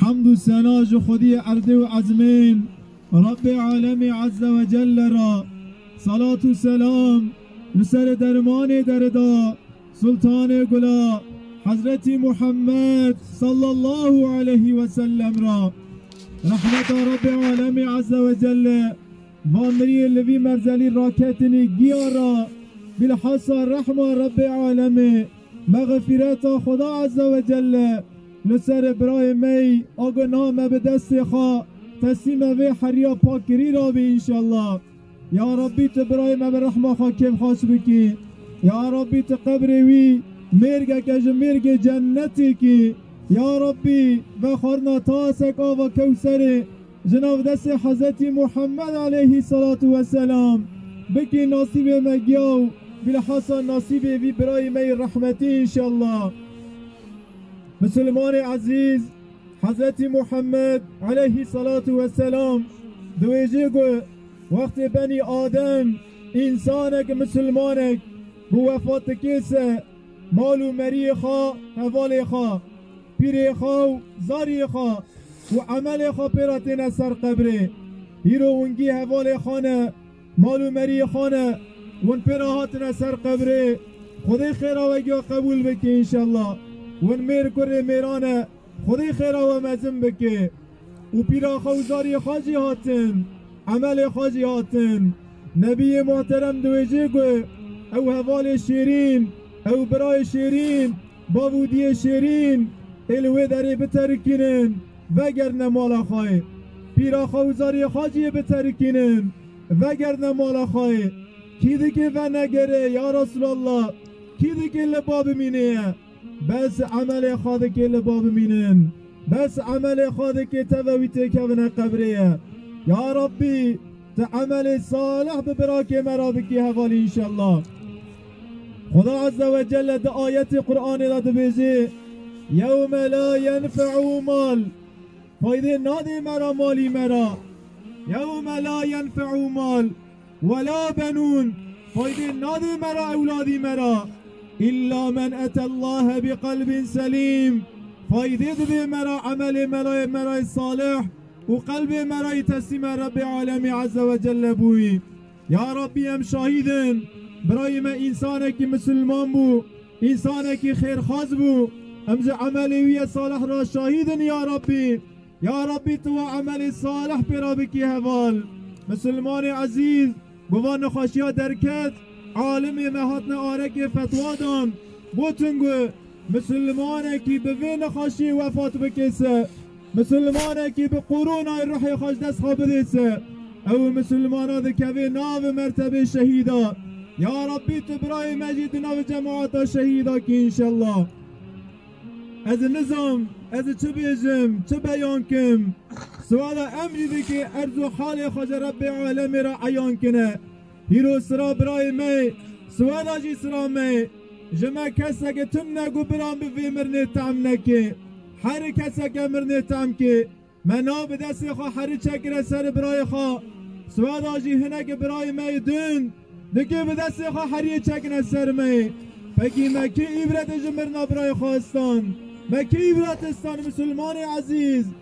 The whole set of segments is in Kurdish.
Hemd û sena ji Xwediyê erdê û ezmên, Rebbê Alemî Ezze ve Celle re, selat û selam li serê dermanê derida, Sultanê Gula, Hezretî Muhammed Sallallahu Aleyhî ve Sellem re. Rehmeta Rebbê Alemî Ezze ve Celle va miriyê li vî merzelî raketinî giya re, bîlhasa rehma Rebbê Alemê, mexfîreta Xweda Ezze ve Celle, Li ser birayê me yî ago niha me bi destê xwe teslîma vê heriya pak kirî re bî înşellah. Ya Rabbî tu birayê me bi rehma xwe kêfxweş bikî. Ya Rabbî tu qebrê wî mêrgeke ji mêrgê cennetê kî. Ya Rabbî ve xwarina tasek ava kewserê ji nav destê Hezretî Muhammed aleyhî selatu we selam bikî nasîbê me giyaw. Bilhassa nasîbê vî birayê me yî rehmetî înşellah. Misilmanê ezîz, Hezretî Muhammed aleyhî selatu we selam diwêjê ku wextê benî Adem însanek û misilmanek bi wefat dike se mal û meriyê xwe, hevalê xwe, pîrê xwe û zariyê xwe û emelê xwe pê re têne ser qebrê. Îro wingî hevalê xwe ne. Mal û meriyê xwe ne win pê re hatine ser qebrê. Xwedê xêra we giya qebûl bike înşella. Win mêr kurê mêran e Xwedê xêra we mezin bike. Û pîra xwe û zariyê xwe jî hatin. Emelê xwe jî hatin. Nebiyê muhterem diwêjê ku ew hevalê şêrîn, ew birayê şêrîn, bav û diyê şêrîn ê li wê derê biterikînin. Vegerdne mala xwe. Pîra xwe û zariyê xwe cî yê biterikînin. Vegerdne mala xwe. Kî dikê venegere, ya Resûlallah, kî dikê li ba bimînê? Bes emelê xwe dikê li ba bimînin. Bes emelê xwe dikê teve wî têkevine qebrê. Ya Rabbî, tu emelê salih bi birakê me re bikî hevalî înşellah. Xuda Azze ve Celle di ayetê Quranê de dibêje, Yewme la yenfe'u mal, faydê nadê me re malî me re, yewme la yenfe'u mal we la benûn, faydê nadê me re ewladî me re, îlla men et'Ellâhe bi qelbin selîm, faydê dibê me re emelê me re me re yê salih û qelbê me re yê teslîma Rebbê Alemî Azze ve Celle bûyî. Ya Rabbî em şahîd in birayê me însanekî misilman bû, însanekî xêrxwaz bû, em ji emelê wî yê salih re şahîd in ya Rabbî. Ya Rabbî tu wan emelê salih pê re bikî heval. Misilmanê ezîz bi van nexweşiya derket, alimê me hatine arekê fetwa dan, gotin ku Misilmanekî bi vê nexweşiyê wefat bike se, misilmanekî bi qoronayê ruhê xwe ji dest xwe bidê se, ew û misilmanan dikevê navê mertebê şehîda. Ya Rabbî tu birayê me jî di navê cemaata şehîda kî înşellah. Ez nizam ez çi bêjim, çi beyan kim. Siwala em jî dike erz û halê xwe ji Rebbê alemê re eyan kine. Pîroz sira birayê me ye, siweda jî sira me ye. Ji me keseke tim ne ku biran bi vê mirinê tehm neke. Heri keseke mirinê tehm ke, me nav bi destê xwe heri çekire serê birayê xwe. Siweda jî hineke birayê me yê din, di kê bi destê xwe heriyê çekine ser me. Pekî me kê îbrete ji mirina birayê xwe stan? Me kê îbrete stan Misilmanê ezîz?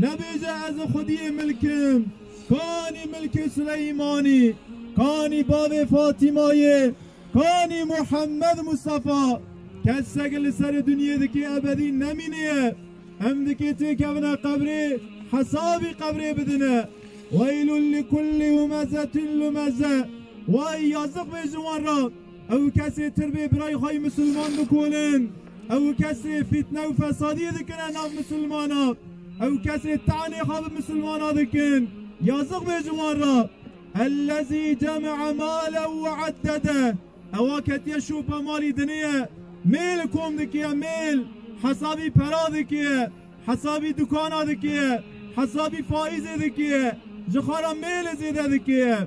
Nebêje ez li xwediyê milk im, kanî milkê Suleymanî, kanî bavê Fatîmayê, kanî Muhemmed Mustafa. Kesek li serê dinyê dikê ebedî nemînê ye. Em dikê têkevine qebrê hesabî qebrê bidine. Weylun li kulli humezetin lumeze. Way yazik bê ji wan re. Ew kesê tirbê birayê xwe yê misilman dikolin. Ew kesê fîtne û fesadiyê dikine nav misilmanan. Ew kesê tanê xwe bi misilmanan dikin. Yazıq bê ji wan re. Ellezî cemee male û eddede. Ewa ketiye şopa malî diniye. Mêl kom dikiye mêl. Hesabî pera dikiye. Hesabî dukana dikiye. Hesabî faîzê dikiye. Ji xwe re mêl zêde dikiye.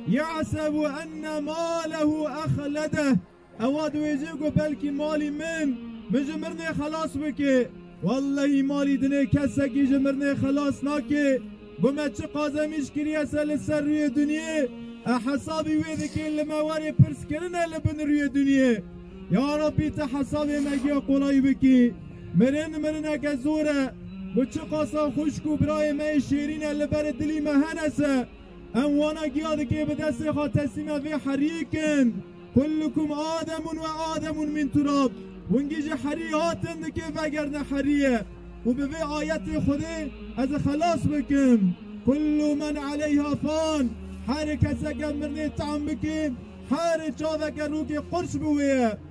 Yahseb enne malehu ehledeh, Ewa diwêjê ku belkî malî min min ji mirinê xelas bike. Wellehî malî dinê kesekî ji mirinê xelas nake. Ku me çi qazemîş kiriyese li ser rûyê dinyê, e hesabî wê dike li me warê pirs kirine li bin rûyê dinyê. Ya Rabbî ti hesabê me giya qolayî bikî. Mirin mirineke zor e. Bi çi qasa xwişk û birayê me yê şêrîn e li berê dilî me hene se. Em wana giya dikê bi destê xwe teslîme vê heriyê kin. Kullukum ademun ve ademun min turab. Wingî ji herî hatin dikê vegerne heriyê û bi vê ayetê Xwedê ez ê xelas bikim. Kullu men aleyha fan. Herî keseke mirinê tam bikê, herî çaveke rokê qurç bi wê ye.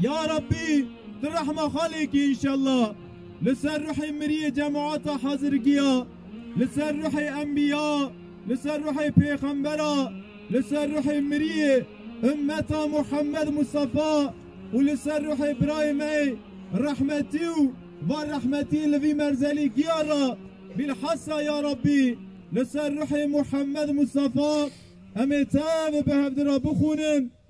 Ya Rabbî tu rehma xwe lê kî înşellah li ser ruhê miriyê cemaata Hezirgiya, li ser ruhê enbiya, li ser ruhê pêxembera, li ser ruhê miriyê ummeta Muhammed Mustafa û li ser ruhê birayê me rehmetî û van rehmetî li vî merzelî giya re bîlhesa ya Rabbî li ser ruhê Muhammed Mustafa em ê tev bi hevdira bixwînin.